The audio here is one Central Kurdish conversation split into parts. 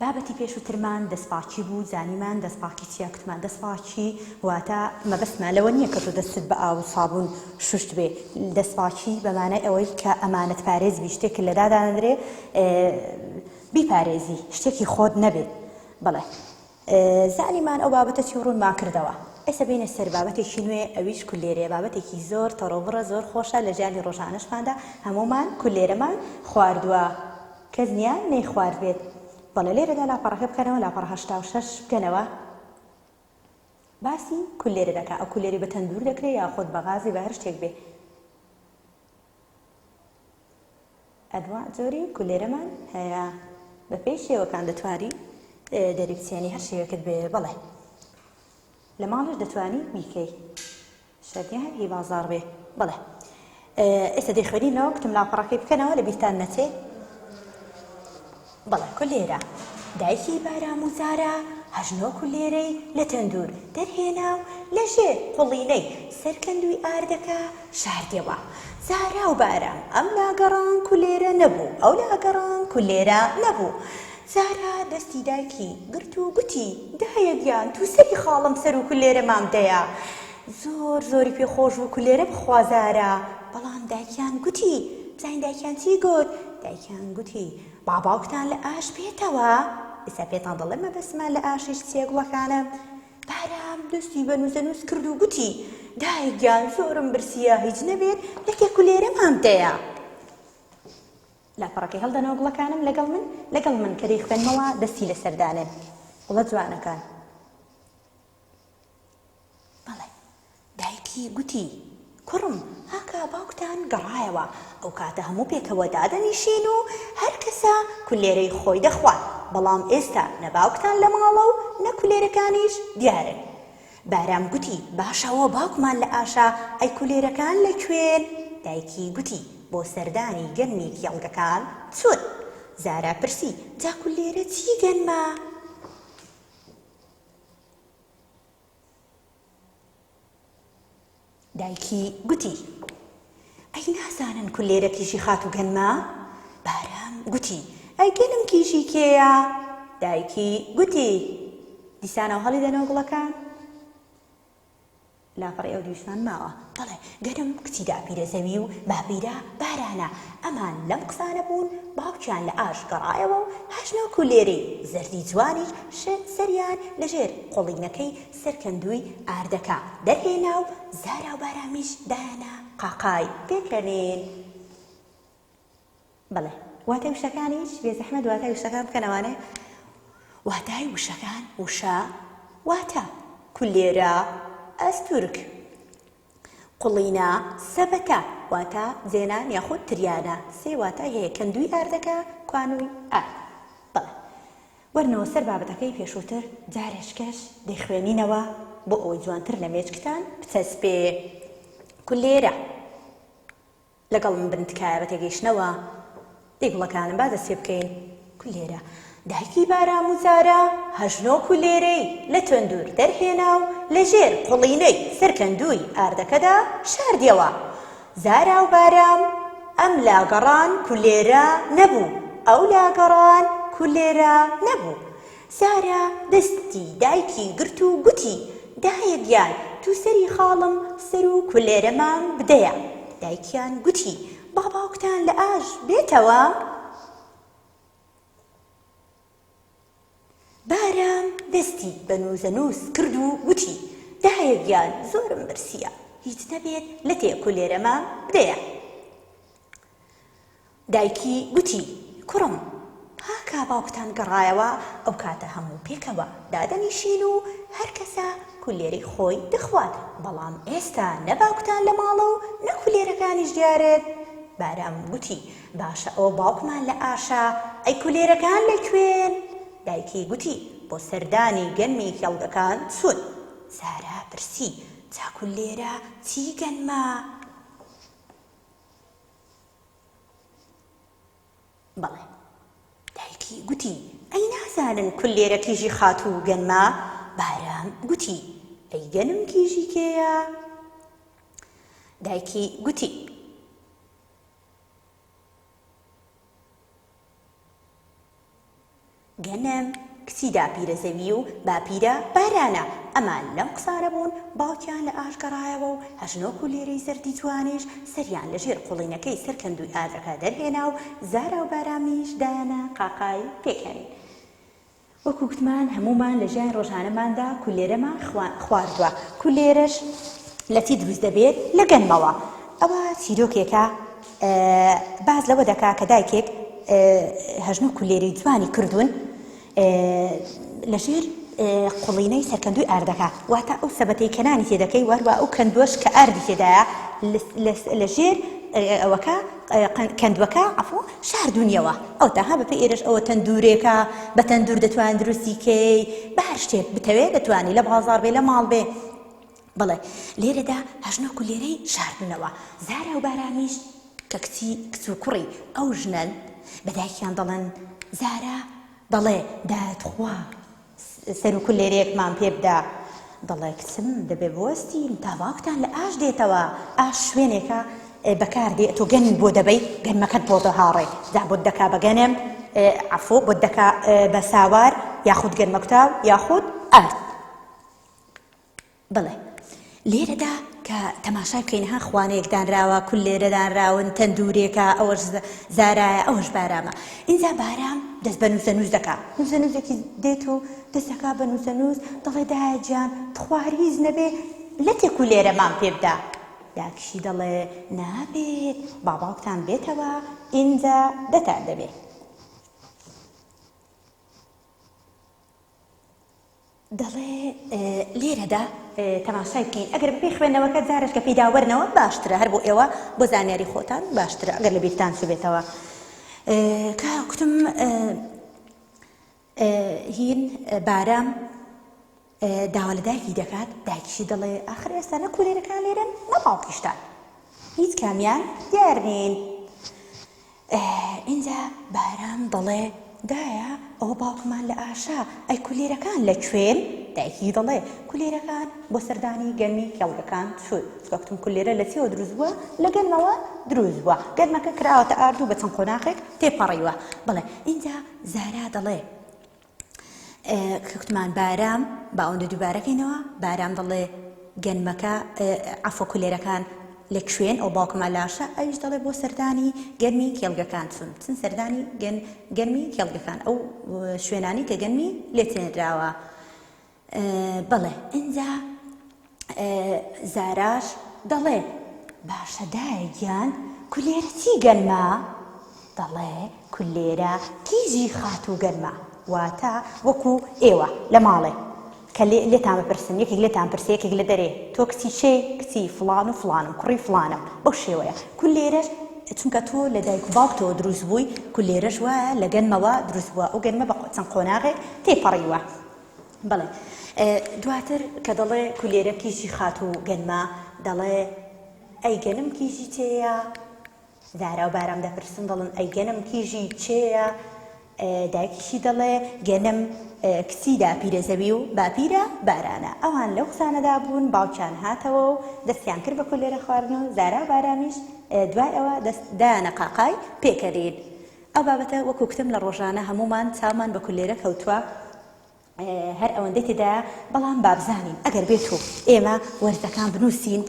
بابەتی پێشووترمان دەستپاکی بوو، زانیمان دەستپاکی چیە، کوتمان دەستپاکی واتە مەبەستمان لەوە نیە کە تۆ دەستت بە ئاو و سابوون شوشت بێ، دەستپاکی بە مانای ئەوەی کە ئەمانەت پارێز بی شتێکت لە دادانەدرێ بیپارێزی شتێکی خۆت نەبێ بەڵێ. زانیمان ئەو بابەتە چی و ڕوونمان کردەوە. ئێستا بێینە سەر بابەتێکی نوێ ئەویش کولێرەیە بابەتێکی زۆر تەڕوبڕە زۆر خۆشە لە ژیانی ڕۆژانەشماندا هەموومان کولێرەمان خواردوە کەس نیە نەیخواردبێت بەڵێ لێرەدا لاپەڕەکە بکەنەوە لاپەڕە هەشتا و شەش بکەنەوە باسی کولێرە دەکا ئەو کولێری بە تەندور دەکرێ یاخود بە غازی بە هەر شتێک بێ ئەنواع جۆری کولێرەمان هەیە بەپێی شێوەکان دەتوانی دەریبچێنی هەر شێوەکت بێ بەڵێ لە ماڵش دەتوانی بیکەی شەرنی هەر هی بازار بێ بڵێ ئێستا دەیخوێنینەوە کتم لاپەڕەکەی بکەنەوە لە بیرتان نەچێ بەڵێ کولێرە دایکی بارام و زارا هەشت نۆ کولێرەی لە تەندوور دەرهێنا و لە ژێر قوڵینەی سەرکەندووی ئاردەکە شاردیەوە. زارا و بارام ئەم لا گەڕان کولێرە نەبوو ئەو لا گەڕان کولێرە نەبوو. زارا دەستی دایکی گرت و گوتی، دایە گیان توو سەری خاڵم سەر و کولێرە مام دەیە. زۆر زۆری پێ خۆش بوو کولێرە بخوا زارا. بەڵام دایکیان گوتی، بزانین دایکیان چی گوت؟ دایکیان گوتی، با باوکتان لە ئاش بێتەوە، ئیستا پێتان دەڵێم مەبەستمان لە ئاشیش چیە گوڵەکانم. بارام دەستی بە نوزەنوز کرد و گوتی، دایک گیان زۆرم برسیە هیچ نەبێت لە کێکولێرە مامتەیە. لاپەڕەکەی هەڵدەنەوە گوڵەکانم لەگەڵ من لەگەڵ من کە دەیخوێنمەوە دەستی لەسەر دانێ گوڵە جوانەکان. بەڵێ. دایکی گوتی، کوڕم، هاکا باوکتان گەڕایەوە، ئەو کاتە هەموو پێکەوە دادەنیشین و هەر کەسە کولێرەی خۆی دەخوات، بەڵام ئێستا نە باوکتان لە ماڵە و نە کولێرەکانیش دیارن. بارام گوتی، باشە ئەوە باوکمان لە ئاشە، ئەی کولێرەکان لە کوێن؟ دایکی گوتی، بۆ سەردانی گەنمی کێڵگەکان چوون. زارا پرسی، جا کولێرە چی گەنمە؟ دایکی گوتی، ئەی نازانن کولێرە کیژی خاتوو گەنمە؟ بارام گوتی، ئەی گەنم کیژی کێیە؟ دایکی گوتی، دیسانەوە هەڵیدەنەوە گوڵەکان؟ لاپەڕەی ئەو دویشمان ماوە دەڵێ گەنم کچی داپیرە زەوی و باپیرە بارانە ئەمان لەم قسانە بوون باوکیان لە ئاش گەڕایەوە و هەژنۆ کولێرەی زەردی جوانیش ش سەریان لە ژێر قۆڵینەکەی سەر کەندووی ئاردەکە دەرهێنا و زارا و بارامیش دایانە قاقای پێکەنین. بەڵێ واتای وشەکانیش بێزەحمەت واتای وشەکان بکەن ئەوانەی واتای وشەکان وشە واتە کولێرە ئەستورک قوڵینە سەبەتە واتە زێنان یاخود تریانە سێ واتای هەیە کەندوی ئاردەکە کوانووی ئار بەڵێ وەرنەوە سەر بابەتەکەی پێشووتر جارێشکەش دەیخوێنینەوە بۆ ئەوەی جوانتر لە مێچکتان بچەسپێ کولێرە لەگەڵم بن تکایە بە تێگەیشتنەوە دەی گوڵەکانم با دەست پێ بکەین کولێرە دایکی بارام و زارا هەژنۆ کولێرەی لە تەندور دەرهێنا و لە ژێر قوڵینەی سەر کەندووی ئاردەکەدا شاردیەوە زارا و بارام ئەم لا گەڕان کولێرە نەبوو ئەو لا گەڕان کولێرە نەبوو سارا دەستی دایکی گرت و گوتی، دایە گیان تو سەری خاڵم سەر و کولێرەمام بدەیە. دایکیان گوتی، با باوکتان لە ئاش بێتەوە. بارام دەستی بە نووزەنووس کرد و گوتی، دایە گیان زۆرم برسییە، هیچ نەبێت لەتێ کولێرەمام بدەیە. دایکی گوتی، کوڕم! هاکا باوکتان گەڕایەوە، ئەو کاتە هەموو پێکەوە دادەنیشین و هەر کەسە کولێرەی خۆی دەخوات، بەڵام ئێستا نە باوکتان لە ماڵە و نە کولێرەکانیش دیارت؟ بارام گوتی، باشە ئەوە باوکمان لە ئاشە، ئەی کولێرەکان لە کوێن؟ دایکی گوتی، بۆ سەردانی گەنمی کێڵگەکان چوون. سارا پرسی، جا کولێرە چی گەنمە؟ بەڵێ دایکی گوتی، ئەی نازانن کولێرە کیژی خاتوو گەنمە؟ بارام گوتی، ئەی گەنم کیژی کێیە؟ دایکی گوتی. گەنم، کچی داپیرە زەوی و باپیرە بارانە، ئەمان لەم قوسارە بوون، باوکیان لە ئاش گەڕایەوە و هەژنۆک و لێرەی زەردی جوانیش سەریان لە ژێر قوڵینەکەی سەر کەندووی ئاژەکە دەرهێنا و زارا و بارامیش دایانە قاقای پێکەنین. وەکو گوتمان هەموومان لە ژیانی ڕۆژانەماندا کولێرەمان خواردووە، کولێرەش لە چی دروست دەبێت؟ لە گەنمەوە. ئەوە چیرۆکێکە. باس لەوە دەکا کە دایکێک هەژنو کولێرەی جوانی کردوون لەژێر قوڵینەی سەرکەندوی ئاردەکە واتە ئەو سەبەتەی کەنانی تێدەکەی وەروە ئەو کەندوەش کە ئاردی تێدایە لەژێر ئەوەکە کەندوەکە ئەفۆ شار دنیاوە ئەو تاها بەپی ئێرش ئەوە تەندورێکە بە تەندور دەتوان دروستیکەی بە هەر شتێک بتەوێت دەتوانانی لە بازار بێ لە ماڵ بێ بەڵێ لێرەدا هەژنە کولێرەی شاردونەوە، زارا و بارامیش کە کچی کچ و کوڕی ئەو ژنەن بە دایکیان دەڵێن، زارا دەڵێ داتخوا سەر و کولێرەیەکمان پێ بدە، دەڵێ کچم دەبێ بوەستین تا باوکتان لە ئاش دێتەوە، ئاش شوێنێکە بەکار دێ تۆ گەنم بۆ دەبەی گەنمەکەت بۆ دەهاڕێ، جا بۆت دەکا بە گەنم عەفۆ بۆت دەکا بە ساوار یاخود گەنمەکوتاو یاخود ئارد. بەڵێ لێرەدا کە تەماشای بکەین ها خوانێک دانراوە کول لێرە دانراون تەندورێکە ئەوەش زارایە ئەوەش بارامە ئینجا بارام دەست بە نووسە نووس دەکا نووسە نووسێکی دێت و دەستەکە بە نووسە نووس دەڵێ دایە گیان تخوار هیچ نەبێ لە تێک و لێرەمان پێبدا داکشی دەڵێ نابێت باباوکتان بێتەوە ئینجا دەتان دەبێت دەڵێ لێرەدا تەماشای بکەین ئەگەر بپێ خوێندنەوەکە جارش کە پێیدا وەرنەوە باشترە هەر بۆ ئێوە بۆ زانیاری خۆتان باشترە ئەگەر لە بیرتان چبێتەوە کە کوتم هین بارام داوا لە دایکی دەکات دایکیشی دەڵێ ئاخر ئێستا نە کولێرەکان لێرن نە باوکیشتان هیچ کامیان دیار نین ئینجا بارام دەڵێ، دایە ئەوە باوکمان لە ئاشا، ئەی کولێرەکان لە کوێن؟ دایکی دەڵێ، کولێرەکان بۆ سەردانی گەنمی کێڵگەکان چوون. سوەکتم کولێرە لە چییەوە دروست بووە؟ لە گەنمەوە دروست بووە. گەنمەکە کراوەتە ئارد و بە چەند قۆناغێک تێپەڕیوە. بەڵێ. ئینجا زارا دەڵێ، کەکوتمان بارام با ئەوەندە دووبارەکەینەوە بارام دەڵێ گەنمەکە عفۆ کولێرەکان لە کوێن ئەو باوکمە لاشە ئەویش دەڵێ بۆ سەردانی گەرمی کێڵگەکان چون چن سەردانی گەرمی کێڵگەکان ئەو شوێنانی کە گەرمی لێتێنراوە بەڵێ ئینجا زاراش دەڵێ باشە دایە گیان کولێرە چی گەرمە دەڵێ کولێرە کیژی خاتوو گەرمە واتە وەکو ئێوە لە ماڵێ کە لێتان بپرسن یەکێک لێتان پرسێ یەکێک لە دەرێ تۆ کچی شێ کچی فلان و فلانم کوڕی فلانم بەو شێوەیە کولێرەش چونکە تۆ لە دایک و باوکتەوە دروست بووی کولێرەش وایە لە گەنمەوە دروست بووە ئەو گەنمە بە چەند قۆناغێک تێپەڕیوە بەڵێ دواتر کە دەڵێ کولێرە کیژی خات و گەنمە دەڵێ ئەی گەنم کیژی چێە زارا و بارام دەپرسن دەڵن ئەی گەنم کیژی چێە دایکیشی دەڵێ گەنم کچیدا پیرەزەوی و باپیرە بارانە ئەوان لەو قسانەدا بوون باوکیان هاتەوە و دەستیان کرد بە کولێرە خواردن و زارا و بارامیش دوای ئەوە دەستدایانە قاقای پێکەنین ئەو بابەتە وەکو کتم لە ڕۆژانە هەموومان چاومان بە کولێرە کەوتووە هەر ئەوەندەی تێدایە بەڵام بابزانین ئەگەر بێت و ئێمە وەرزەکان بنووسین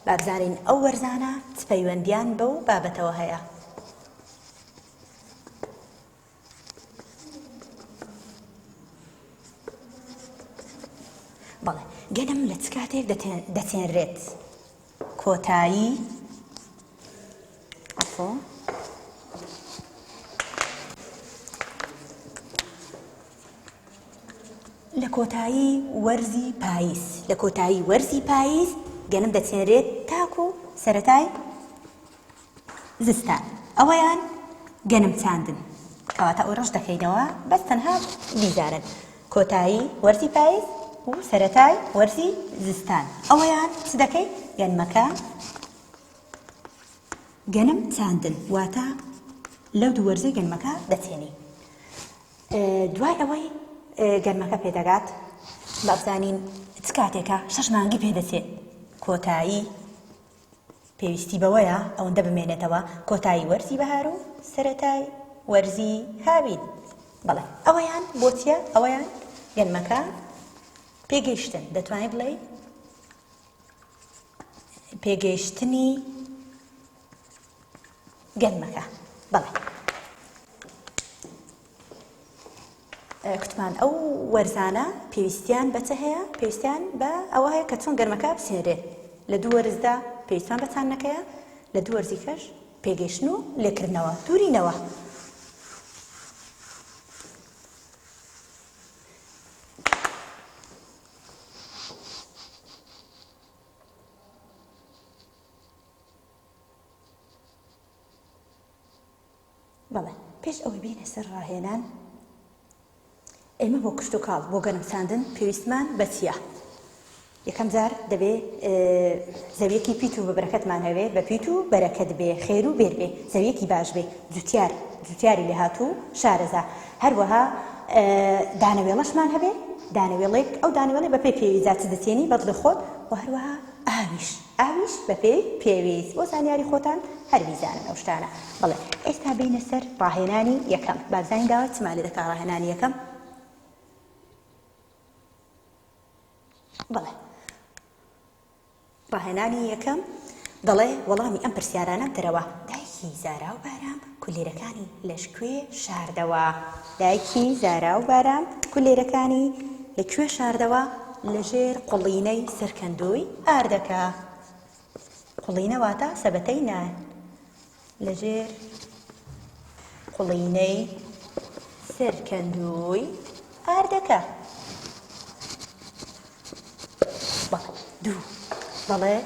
بابزانین ئەو وەرزانە چ پەیوەندیان بەو بابەتەوە هەیە بەڵێ گەنم لە چ کاتێک دەچێنرێت کۆتایی وەرزی پاییز لە کۆتایی وەرزی پاییز گەنم دەچێنرێت تاکو سەرەتای زستان ئەوەیان گەنم چاندن کەواتە ئەو ڕەش دەکەینەوە بەس تەنها بیزارن کۆتایی وەرزی پایز و سەرەتای وەرزی زستان ئەوەیان چ دەکەین گەنمەکان گەنم چاندن واتە لەو دوو وەرزەی گەنمەکە دەچێنی دوای ئەوەی گەنمەکە پێدەگات بابزانین چ کاتێکە شەش مانگی پێدەچێت کۆتایی پێویستی بەوەیە ئەوەندە بمێنێتەوە کۆتایی وەرزی بەهار و سەرەتای وەرزی هاوین بەڵێ ئەوەیان بۆچیە ئەوەیان گەنمەکە پێگەیشتن دەتوانێت بڵێ پێگەیشتنی گەنمەکە بەڵێ کوتمان ئەو وەرزانە پێویستیان بەچە هەیە پێویستیان بە ئەوە هەیە کە چۆن گەرمەکە بسێنرێ لە دوو وەرزدا پێویستمان بەچان نەکەیە لە دوو وەرزی کەش پێگەیشتن و لێکردنەوە دوورینەوە بەڵێ پێش ئەوەی بێینە سەر ڕاهێنان ئێمە بۆ کشتوکاڵ بۆ گەنمساندن پێویستمان بە چییە؟ یەکەم جار دەبێ زەویەکی پیت و بە بەرەکەتمان هەوێ بە پیت و بەرەکەت بێ خێر و بێر بێ زەویەکی باش بێ جوتیار جوتیاری لە هاتوو شارەزا هەروەها دانەوێڵەشمان هەبێ دانەوێڵێک ئەو دانەوێڵی بە پێ پێویجات دەتێنی بەدڵی خۆت و هەروەها ئاویش ئەویش بەپێی پێویست بۆ زانیاری خۆتان هەر بیزانن ئەو شتانە بەڵێ ئێستا بینە سەر ڕاهێنانی یەکەم بابزانین داوای چمان لێ دەکا ڕاهێنانی یەکەم بەڵێ ڕاهێنانی یەکەم دەڵێ وەڵامی ئەم پرسیارانەم تەرەوە دایکی زاراو بارام کولێرەکانی لەش کوێ شاردەوە؟ دایکی زارا و بارام کولێرەکانی لە کوێ شاردەوە؟ لە ژێر قوڵینەی سەرکەندووی ئاردەکە. قوڵینە واتە سەبەتەی نان. لە ژێر قوڵینەی سەرکەندووی ئاردەکە. بەڵێ دوو بەڵێ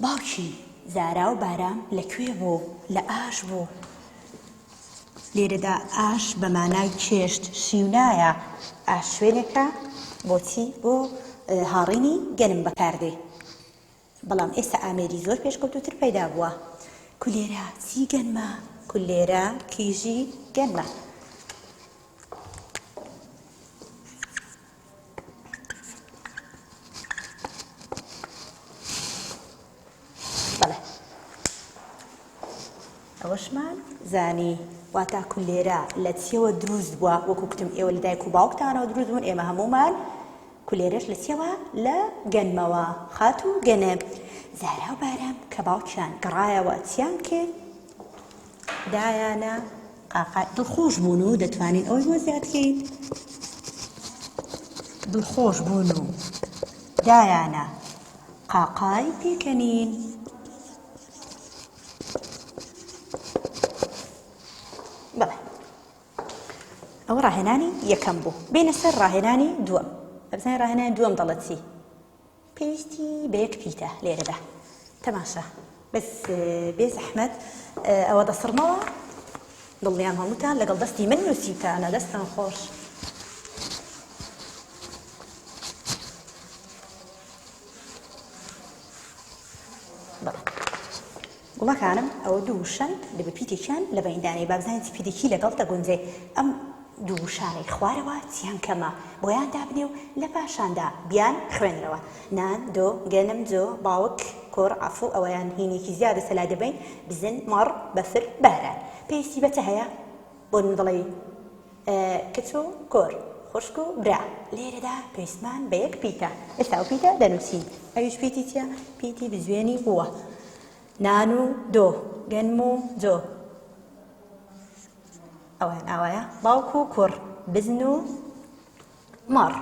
باوکی زارا و بارام لە کوێ بوو؟ لە ئاش بوو. لێرەدا ئاش بە مانای چێشت، شیونایە. ئاش شوێنێکە بۆ چی؟ بۆ هاڕینی گەنم بەکار دێ. بەڵام ئێستا ئامێری زۆر پێشکەوتووتر پەیدا بووە. کولێرە چی گەنمە؟ کولێرە کیژی گەنمە. بەڵێ ئەوەشمان زانی واتا کولێرە لە چیەوە دروست بووە وەکو کتم ئێوە لە دایک و باوکتانەوە دروست بوون ئێمە هەمومان کولێرەش لە چیەوە لە گەنمەوە خات و گەنم زارا و بارام کە باوکیان گەڕایەوە چیان کرد دایانە قاقا دڵخۆش بوون و دەتوانین ئەوەی بۆ زیاد کەین دڵخۆش بوون و دایانە قاقای پێکەنین بەڵێ ئەوە ڕاهێنانی یەکەم بوو بینە سەر ڕاهێنانی دووەم ئەبزانین ڕاهێنانی دووەم دەڵەتی پێویستی بە یەک پیتە لێرەدا تەماشا بەس بێ زەحمەت ئەوە دەسڕمەوە دڵنیام هەمووتان لەگەڵ دەستی من نووسیتانە دەستان خۆش گوڵەکانم ئەوە دوو وشەن دەبێ پیتێکیان لە بەین دانێی با بزانین چ پیتێکی لەگەڵ دەگونجێ ئەم دوو وشانەی خوارەوە چیان کەمە بۆیان دابنێ و لە پاشاندا بیان خوێنرەوە نان دۆ گەنم جۆ باوک کوڕ عەفو ئەوەیان هینێکی زیادە سەلای دەبەین بزن مەڕ بەفر باران پێویستی بە چ هەیە؟ بۆ نم دەڵێی کچ و کۆر، خوشک و برا، لێرەدا پێویستمان بە یەک پیتە، ئێستا ئەو پیتە دەنووسین، ئەویش پیتی چییە؟ پیتی بزوێنی بووە، نان و دۆ، گەنم و جۆ، ئەوان ئاوایە، باوک و کوڕ، بزن و مەڕ،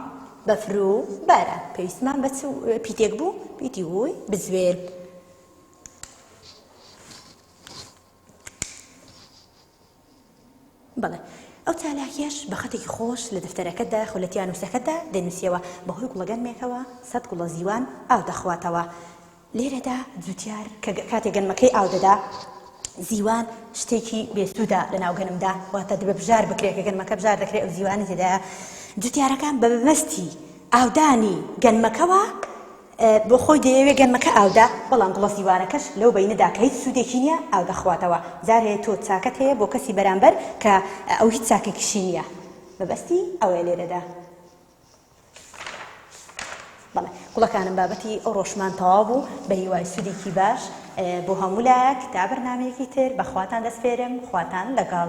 بەفر و باران، پێویستمان بە چ پیتێک بوو؟ پیتی ووی بزوێن. بەڵێ ئەو چالاکیەش بە خەتێکی خۆش لە دەفتەرەکەت دا خۆ لە تیانوسەکەتدا دەنوسیەوە بە هۆی گوڵەگەنمێکەوە سەد گوڵە زیوان ئاو دەخواتەوە لێرەدا جوتیار کە کاتێ گەنمەکەی ئاو دەدا زیوان شتێکی بێسوودە لە ناو گەنمدا واتە دەبێ بژار بکرێت کە گەنمەکە بژار دەکرێت ئەو زیوانە تێدایە جوتیارەکان بە بەمەستی ئاودانی گەنمەکەوە بۆ خۆی دەیەوێ گەنمەکە ئاودا، بەڵام گڵە زیوارەکەش لەو بەینەدا کە هیچ سوودێکی نییە، ئاو دەخواتەوە. جار هەیە تۆ چاکەت هەیە بۆ کەسی بەرامبەر کە ئەو هیچ چاکێکیشی نییە. مەبەستی ئەوەیە لێرەدا. بەڵێ گوڵەکانم بابەتی ئەو ڕۆژمان تەواو بوو بە هیوای سوودێکی باش بۆ هەموو لایەک تا بەرنامەیەکی تر بەخواتان دەسپێرم خواتان لەگەڵ